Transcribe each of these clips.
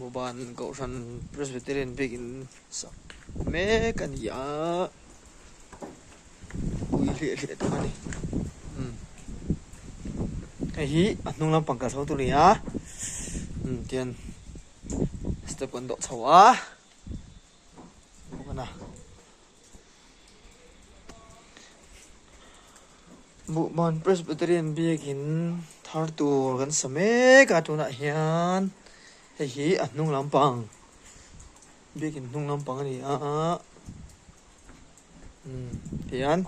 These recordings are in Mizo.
Moban Kohhran Presbyterian biakin sak mek a ni a, pui hliah hliah tak a ni. Um. Hei hi a hnung lampang kal chho tu ni a. Um, tian step kan doh chho a. Bawk a na. Buhman Presbyterian biakin thar tur kan sa mek a, tunah hian hei hi a hnung lampang, biakin hnung lampang a ni a, umm tihian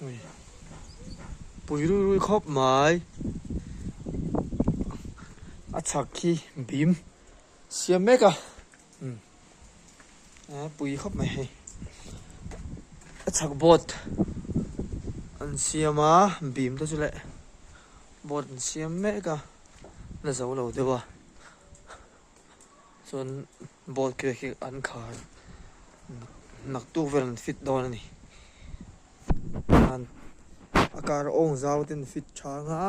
ui pui rui rui khawp mai a chhak khi bim. Siam mek a, umm a pui khawp mai hei. A chhak boat an siam a, bim te chu leh boat an siam mek a, la zo lo deuh a. Chuan boat khi khi an khar nak tu vel an fit dawn a ni. Chuan a kar awng zau ten fit tha ang a.